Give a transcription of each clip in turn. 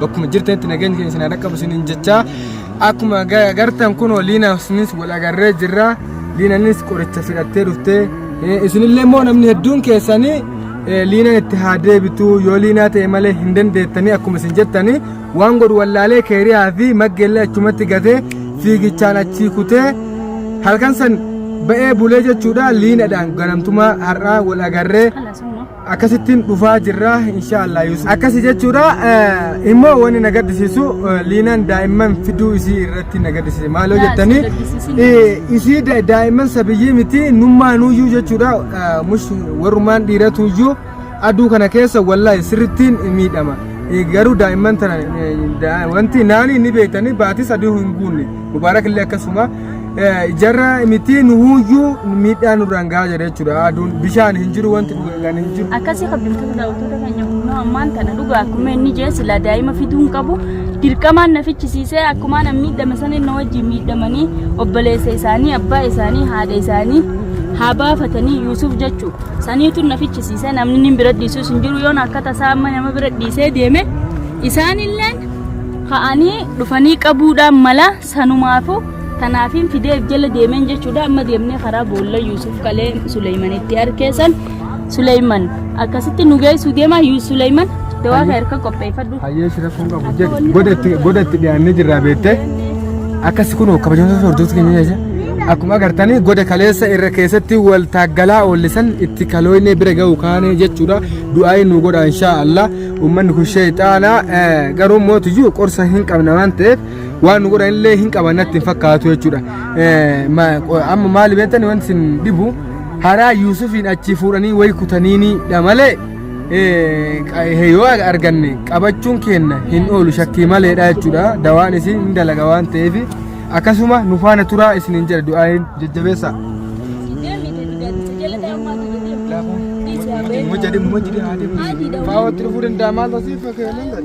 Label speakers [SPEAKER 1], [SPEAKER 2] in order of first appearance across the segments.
[SPEAKER 1] Bakkuma jirtanitti nageenyi keenya isin haa dhaqqabu isiniin jechaa akkuma agartan kunoo liinaanis wal agarree jirra liinanis qoricha fidhattee dhuftee isinillee immoo namni hedduun keessanii liinaan itti haa deebitu yoo liinaa ta'e malee hin dandeettanii akkuma isin jettanii waan godhu wallaalee keeriyaa fi maggeellee achumatti gatee fiigichaan achii kutee halkan san ba'ee bulee jechuudha liinadhaan ganamtumaa har'aa wal agarree akkasittiin dhufaa jirra inshaallah Yusuf akkasi jechuudha eh, immoo wanni na gaddisiisu eh, liinaan daa'imman fiduu isii irratti na gaddisiise maaloo Yaa, jettanii si gaddisiisin. eh, isii da- daa'imman sabiyyii miti nummaanuyyuu jechuudha eh, mush warrumaan dhiiratuyyuu aduu kana keessa wallahi sirrittiin miidhama Eh, garuu daa'imman tana eh, daa- wanti naanii ni beektanii baatis aduu hin guunne mubaarak illee akkasuma jarra miti nuhuyyuu miidhaa nurraan gahaa jira jechuudha aduun bishaan hin jiru wanti dhugaan hin jiru. Akkasii kabajamtoota daawwattoota
[SPEAKER 2] keenya kunoo ammaan tana dhugaa akkuma inni jee silaa daa'ima fiduu hin qabu dirqamaan na fichisiisee akkuma na miidhame sana inni wajjin miidhamanii obboleessa isaanii abbaa isaanii haadha isaanii haa baafatanii Yuusuf jechuu saniitu na fichisiisee namni inni bira dhiisuus hin jiru yoon akka tasaa amma nama bira dhiisee deeme isaanilleen ka'anii dhufanii qabuudhaan mala Sanumaafuu kanaafiin fidee if jala deemeen jechuudha amma deemnee karaa boolla Yuusuf kalee Suleeymanitti arkee san Suleeyman akkasitti nu geessu deema Yuus Suleeyman dawaa kee harka qopheeffadhu. Hayyee si rakkoon qabu
[SPEAKER 1] jedhe godatti godatti dhiyaannee jirraa beektee akkas kunoo kabajamtoota hordoftoota keenya jecha akkuma agartanii goda kaleessa irra keessatti wal taaggalaa oollisan itti kalooyne bira ga'u kaane jechuudha du'aayi nu godha inshaa Allah uummanni kun sheexaana eh, garuu mootiyyuu qorsa hin qabna waan ta'eef waan nu godhan illee hin qaban natti hin fakkaatu jechuudha. Eh, ma- qo- Amma maali beektani wanti isin dhibu haraa Yuusufiin achi fuudhanii wayi kutaniinidha malee eh, qa- eh, yoo arganne qabachuun keenna hin oolu shakkii maleedha jechuudha. Dawaan isin hin dalaga waan ta'eef akkasuma nu faana turaa isin hin jedha du'aayin jajjabeessa. Mujjadin mujjadin haa deemu. Faawwatti dhufuu danda'a maal tasiif fakkeenyaan.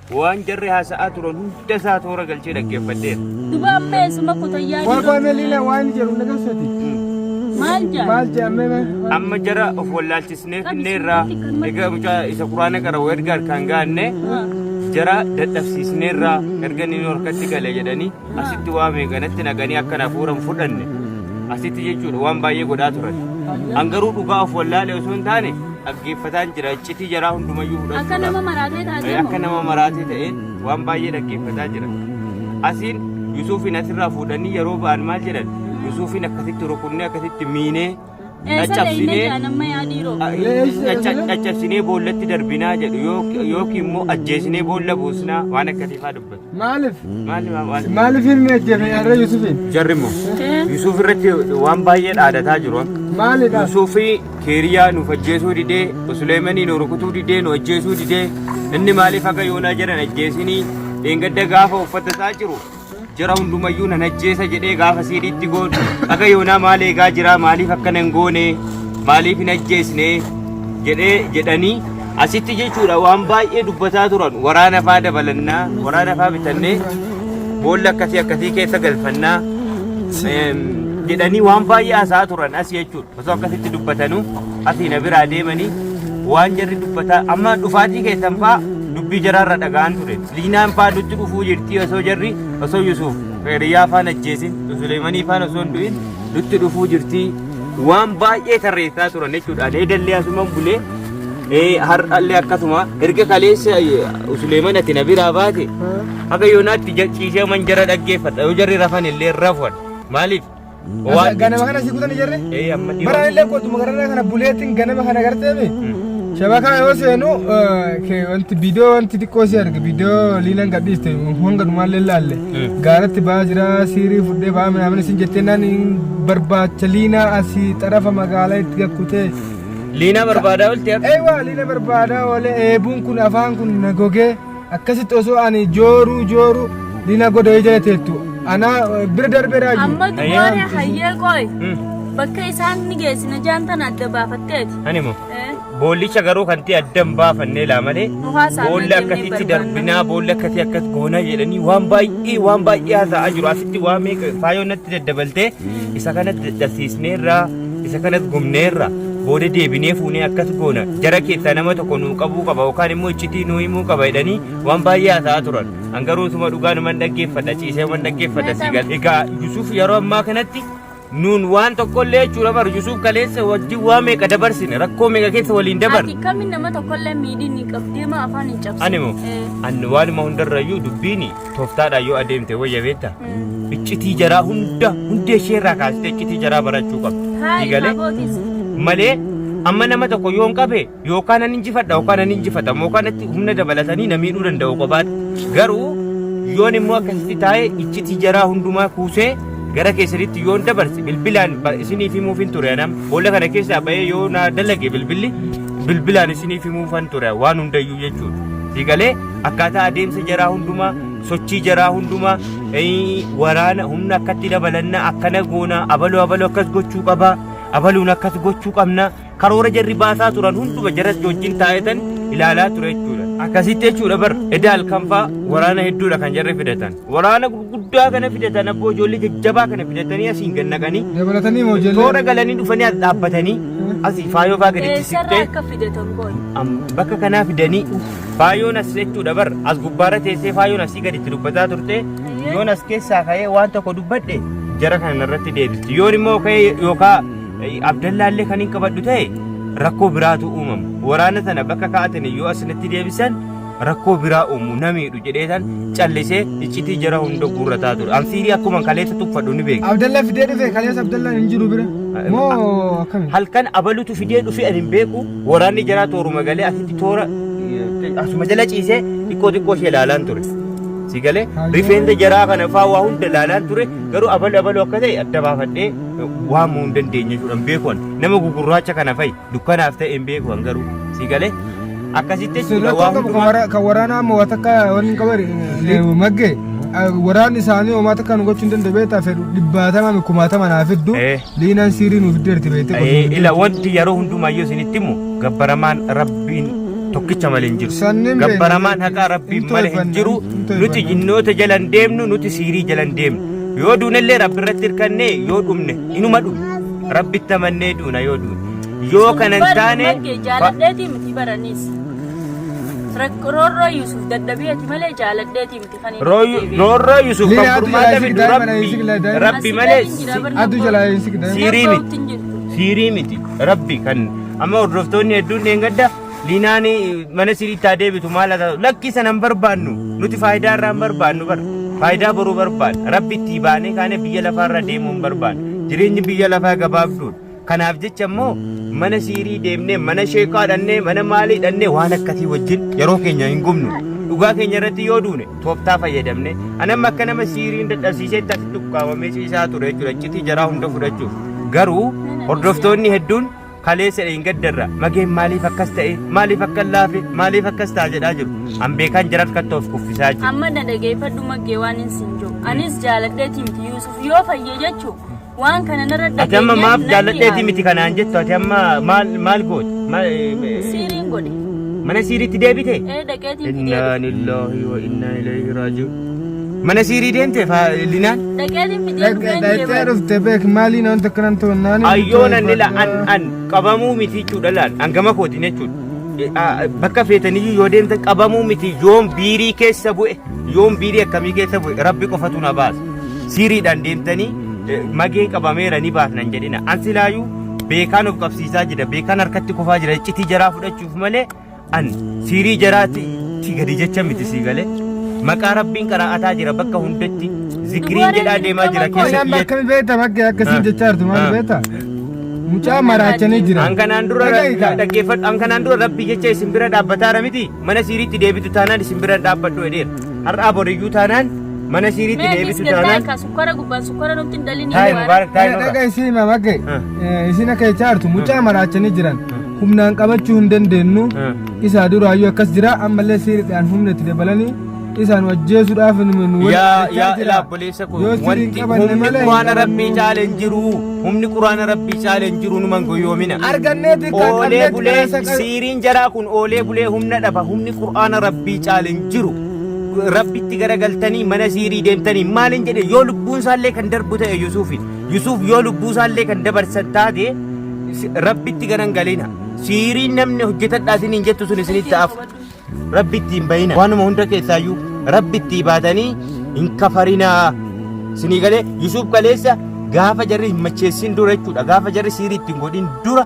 [SPEAKER 1] Waan jarri
[SPEAKER 3] haasa'aa turan hunda isaa toora galchee dhaggeeffadheera. Duba amma eessuma
[SPEAKER 2] kutayyaa Waa waa melina waan
[SPEAKER 1] jedhu na garsati. maal jaa? Maal jaamee mee? Amma
[SPEAKER 3] jara of wallaalchisnee finneerraa egaa mucaa isa quraana qara'u erga harkaan gaanne jara dadhabsiisneerraa erga inni nu harkatti gale jedhanii asitti waa meeqanatti naqanii akka na fuuran fudhanne asitti jechuudha waan baay'ee godhaa turan. An garuu dhugaa of wallaalee osoo hin taane dhaggeeffataan jira iccitii jaraa hundumayyuu fudhachuu Akka nama qaba. maraatee
[SPEAKER 2] taatee Akka moo? nama maraatee ta'e
[SPEAKER 3] waan baay'ee dhaggeeffataa jira. Asiin Yusuufiin asirraa fuudhanii yeroo ba'an maal jedhan Yusuufiin akkasitti rukunnee akkasitti miinee Caccabsinee caccabsinee boollatti darbinaa jedhu yookiin immoo ajjeesinee boolla buusnaa waan akkatiifaa dubbatu. Maaliif?
[SPEAKER 1] Maaliif ilmi ajjeefe har'a Yusufiin? Jarri immoo
[SPEAKER 3] Yusuf irratti waan baay'ee dhaadataa jiru. Maalidha? Yusufi keeriyaa nuuf ajjeesuu didee, Suleemanii nu rukutuu didee, nu ajjeesuu didee, inni maaliif akka yoonaa jedhan ajjeesinii, dheengadda gaafa uffata isaa jiru Jara hundumayyuu nan ajjeesa jedhee gaafa siidhiitti goon haga yoonaa maal eegaa jira maaliif akkana hin goone maaliif hin ajjeesne jedhee jedhanii asitti jechuudha waan baay'ee dubbataa turan waraana faa dabalannaa waraana faa bitannee boolla akkasii akkasii keessa galfannaa em, jedhanii waan baay'ee haasa'aa turan as jechuudha. Osoo akkasitti dubbatanuu asii na biraa deemanii waan jarri dubbataa amma dhufaatii keessan faa dubbii jaraarra dhaga'an ture. Liinaan faa nutti dhufuu jirtii osoo jarri osoo Yusuuf Kheeriyyaa faan ajjeesin Suleemanii faan osoo hin du'in nutti dhufuu jirtii waan baay'ee tarreessaa turan jechuudha. Ani edallee asuman bulee ee har'allee akkasuma erga kaleessa Suleeman ati na biraa baate haga yoonaatti ciisee man jara dhaggeeffadha yoo jarri rafan illee rafuan maaliif Waan ganama
[SPEAKER 1] kana si kutan ijarre ee amma dhiyoo bara illee qotuma gararraa kana buleetiin ganama kana garteemi shabakaa yoo seenu ke wanti bidoo wanti xiqqoo si arge bidoo liinan gadhiiste honga dhumaallee laalle gaaratti baa jira siirii fudhee baa minaamin isin jettee naan hin barbaacha liinaa asii xarafa magaalaa itti gakkutee liinaa
[SPEAKER 3] barbaadaa olti akka Ewa lina barbada
[SPEAKER 1] ole ebun kun afan kun nagoge akkasitti osoo ani jooruu jooruu dina godhee jala teettu anaa eh, bira darbee raajii. Amma duwwaaree
[SPEAKER 2] hayyee qoy. Bakka isaan ni geessina jaantan adda baafatteeti. Ani moo Eh,
[SPEAKER 3] boollicha garuu kan ta'e adda hin baafannee laa malee Mukaa isaanii boolli jennee akkasitti barbaanna. darbinaa boolli akkasii akkas goonaa jedhanii waan baay'ee waan baay'ee haasa'aa jiru asitti waan meeqa faayoo natti daddabaltee isa kanatti dadhabsiisneerraa Isa kanas gumneerra booda deebinee fuunee akkas goona jara keessaa nama tokko nuu qabuu qaba yookaan immoo iccitii nuu himuu qaba jedhanii waan baay'ee haasa'aa turan. An garuu utuma dhugaanuman dhaggeeffadha ciiseeman dhaggeeffadha sii gal. Egaa Yusuuf yeroo ammaa kanatti nuun waan tokkollee jechuudha bar Yusuuf kaleessa wajjin waa meeqa dabarsine rakkoo meeqa keessa waliin dabarne. Ati kami nama tokkollee
[SPEAKER 2] miidhiin hin qabdeema afaan hin cabsine. Ani moo? Eh. Ani
[SPEAKER 3] waanuma hundarrayyuu dubbiini tooftaadhaan yoo adeemte wayya beekta iccitii jaraa hunda hundee ishee irraa kaastee iccitii jaraa barachuu qabda diigalee malee amma nama tokko yoon qabe yookaan nan injifadha yookaan nan injifatamu yookaan itti humna dabalatanii na miidhuu danda'u qofaatti garuu yoon immoo akkasitti taa'e iccitii jaraa hundumaa kuusee gara keessanitti yoon dabarse bilbilaan ba- isiniif himuufin ture anam boolla kana keessaa ba'ee yoo na dalage bilbilli bilbilaan isiniif himuufan ture waan hundayyuu jechuudha diigalee akkaataa adeemsa jaraa hundumaa sochii jaraa hundumaa eh, waraana humna akkatti dabalanna akkana goona abaluu abaluu akkas gochuu qaba abaluun akkas gochuu qabna karoora jarri baasaa turan hunduma jaras wajjin taa'etan ilaalaa ture jechuudha. Akkasitti jechuudha bar edda halkanfaa waraana hedduudha kan jarri fidatan. Waraana gurguddaa kana fidatan abboo ijoollee jajjabaa kana fidatanii asiin gad naqanii Dabalatanii moo ijoollee?
[SPEAKER 1] toora galanii dhufanii as
[SPEAKER 3] dhaabbatanii asii faayoo faa gaditti Eessarraa siqtee akka fidatan boona.
[SPEAKER 2] am- bakka kanaa
[SPEAKER 3] fidanii uff Faayoon as jechuudha bar as gubbaarra teessee faayoon asii gadi itti dubbataa turte yoon as keessaa ka'ee waan tokko dubbadhe jara kana narratti deebisti yoon immoo ka'ee yookaa abdallaallee kan hin qabadhu ta'e rakkoo biraatu uumama waraana sana bakka kaa'atan yoo asinitti deebisan rakkoo biraa uumu namiidhu jedheetan callisee iccitii jara hunda guurrataa ture anfiirii akkuma kaleessa tuffadhu ni beeku Abdallaa fidee dhufe kaleessa
[SPEAKER 1] Abdallaan hin jiru bira. Moo akkami? halkan abalutu
[SPEAKER 3] fidee dhufe ani hin beeku Waraanni jaraa tooruma galee asitti toora eh, asuma jala ciisee xiqqoo xiqqoo ishee ilaalaan ture. Si galee rifeensa jaraa kana faa waa hunda ilaalaan ture garuu abalu abalu akka ta'e adda baafadhee eh, waamuu hin dandeenye jechuudha hin beeku ani. Nama gugurraacha kana fa'i dukkanaaf ta'e hin beeku an garuu si galee akkasitti jechuudha waa hundumaa. Kan waraanaa ammoo waan
[SPEAKER 1] takka waan hin qaban maggee waraanni isaanii homaa takka nu gochuu hin danda'e beektaa fedhu dhibbaatamaa kumaatamaa naaf hedduu Eh. Liinaan siirii nuuf iddeerti beekte Ee, qosuun ila iddeerti. wanti yeroo
[SPEAKER 3] hundumaa yoo isinitti himu gabbaramaan rabbiin tokkicha malee hin jiru Sannin beekna, gabbaramaan beekna. haqaa rabbiin Hin malee hin toifanna, jiru hin toifanna. nuti jinnoota jala hin deemnu nuti siirii jala hin deemnu yoo duunellee rabbi irratti hirkannee yoo dhumne inuma dhumne rabbitti amannee duuna yoo duune yoo kana hin taane ba- jaaladheetii miti
[SPEAKER 2] baranis. Rakkoorroo Yuusuf dadhabee ati malee jaaladheetii miti. Roorroo Yusuf
[SPEAKER 3] kan furmaata fidu rabbi rabbi malee Addu jalaa hin
[SPEAKER 1] sigdan. siirii miti siirii
[SPEAKER 3] miti rabbi kan amma hordoftoonni hedduun dheengadda liinaan mana siriitti haa deebitu maal haa taatu lakkii sana hin barbaannu nuti faayidaa irraa hin barbaannu bar faayidaa boruu barbaanna rabbi itti baanee kaanee biyya lafaa irra deemuu hin barbaannu jireenyi biyya lafaa gabaabduudha Kanaaf jecha immoo mana siirii deemnee, mana sheekaa dhannee, mana maalii dhannee waan akkasii wajjin yeroo keenya hin gubnu. Dhugaa keenya irratti yoo duune tooftaa fayyadamne. Ani amma akka nama siiriin dadhabsiiseetti asitti ukkaamamee ciisaa ture jechuudha. Iccitii jaraa hunda fudhachuuf. Garuu hordoftoonni hedduun kaleessa hin gaddarra. Mageen maaliif akkas ta'e? Maaliif akka laafe? Maaliif akkas ta'a jedhaa jiru. An beekaan jara harkatti of kuffisaa jiru. Amma na dhageeffadhu
[SPEAKER 2] maggee waan hin siin jiru. Anis jaaladhee timti Yuusuf yoo fayye jechu Waan kana narra Ati amma dhageenyaan maaf nan jaalladheeti
[SPEAKER 3] yaade. miti kanaan jettu ati amma maal maal goote? Maal, eh, Siiriin
[SPEAKER 2] godhe. Mana siiriitti
[SPEAKER 3] deebite? Ee dhaqeetiin fidee Innaa
[SPEAKER 2] dhufe. lillahi
[SPEAKER 3] wa innaa ilayhi raaji'uun. Mana siirii deemte faa linaan? Dhaqeetiin fidee dhufeen
[SPEAKER 1] Dhaqxee deebi'e. dhufte beek maaliin wanta akkanan ta'u naan Ayyoon anni la an
[SPEAKER 3] an qabamuu miti jechuudha laal an gama kootiin jechuudha. Eh, ah, Bakka feetaniyyuu yoo deemtan qabamuu miti yoon biirii keessa bu'e yoon biirii akkamii keessa bu'e rabbi qofatu na baasa. Siiriidhaan deemtanii eh, mageen qabameera ni baafnan jedhina. An silaayuu beekaan of qabsiisaa jira, beekaan harkatti kufaa jira, iccitii jaraa fudhachuuf malee an siirii jaraatti ti gadi jecha miti sii galee. Maqaa rabbiin qaraa'ataa jira bakka hundatti zikiriin jedhaa deemaa jira keessa Isaan biyyatti. akkami beekta bakkee
[SPEAKER 1] akkasii jechaa jirtu maal beekta? Mucaa maraachanii jira. An kanaan dura Dhaga'i kaa.
[SPEAKER 3] dhaggeeffadhu, an kanaan dura rabbii jecha isin bira dhaabbataara miti. Mana siiriitti deebitu taanaan isin bira dhaabbadhu jedheera. Har'aa boriyyuu taanaan mana siiriitti Mee deebitu biskit taanaan taayika sukkara gubbaan sukkara
[SPEAKER 2] nutti hin dalini taa'e mubaarak taa'e Dhaga
[SPEAKER 3] nurra. isii mamage
[SPEAKER 1] Ah. isina keechaa jirtu mucaa maraachanii jiran humnaan qabachuu hin dandeenyu Ah. isaa duraayyuu akkas jira ammallee siiriidhaan humna itti dabalanii Isaan ajjeesuudhaaf nu nu waliin yaa ajjechaa yaa
[SPEAKER 3] jira. ilaa obboleessa koo Yoo sirrii wanti hin qabanne humni malee hin quraana qabannu. rabbii caale hin jiru humni quraana rabbii caale hin jiru numan goyoomina Argannee xiqqaa oolee
[SPEAKER 1] qabnee bulee
[SPEAKER 3] qilleensa qal- siiriin jaraa kun oolee bulee humna dhaba humni quraana rabbii caale hin jiru rabbitti garagaltanii mana siirii deemtanii maalin jedhe yoo lubbuun isaallee kan darbu ta'e yusuufiin yusuuf yoo lubbuu isaallee kan dabarsan taate si- rabbitti garangalina siiriin namni hojjetadhaa isiniin jettu sun isinitti hafu Rabbi itti hin bahina. Waanuma hunda keessaayyuu Rabbi itti ibaadanii hin kafarinaa. Sinii galee Yusuuf kaleessa gaafa jarri hin macheessin dura jechuudha. Gaafa jarri siirii itti hin godhin dura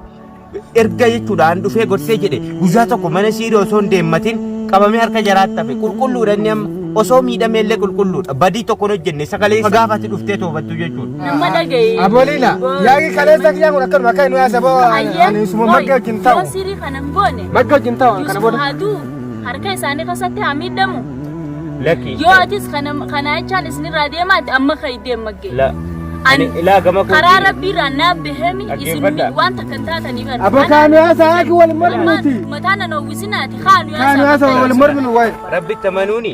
[SPEAKER 3] erga jechuudha an dhufee gorsee jedhe guyyaa tokko mana siirii osoo hin deemmatin qabamee harka jaraatti hafe qulqulluudha inni amma osoo miidhamee illee qulqulluudha badii tokko hin hojjenne sagalee isa gaafa ati dhuftee toobattu jechuudha. Nama dhaga'i.
[SPEAKER 2] Abolila, yaagi
[SPEAKER 1] kaleessa kiyyaa kun akkanuma akka inni haasaboo ani suma magga wajjin ta'u. Yoo sirii kana hin goone.
[SPEAKER 2] Magga wajjin taa'u kana Yusuf booda.
[SPEAKER 1] haa du'u harka
[SPEAKER 2] isaanii keessatti haa miidhamu Lakki.
[SPEAKER 3] yoo atis kana
[SPEAKER 2] kana jechaan isinirraa deemaa ati amma kan deem maggee La. Ani
[SPEAKER 3] ilaa gama koo. karaa rabbiirraa naaf
[SPEAKER 2] bahemi isin Dhaggeeffadha. waan takka hin taataniif ati. Abba kaanu haasaa haaki
[SPEAKER 1] wal morminuti. mataa nan hawwisinaati
[SPEAKER 2] kaanu Kaanu haasaa wal morminu
[SPEAKER 1] waa'ee. Rabbitti amanuuni.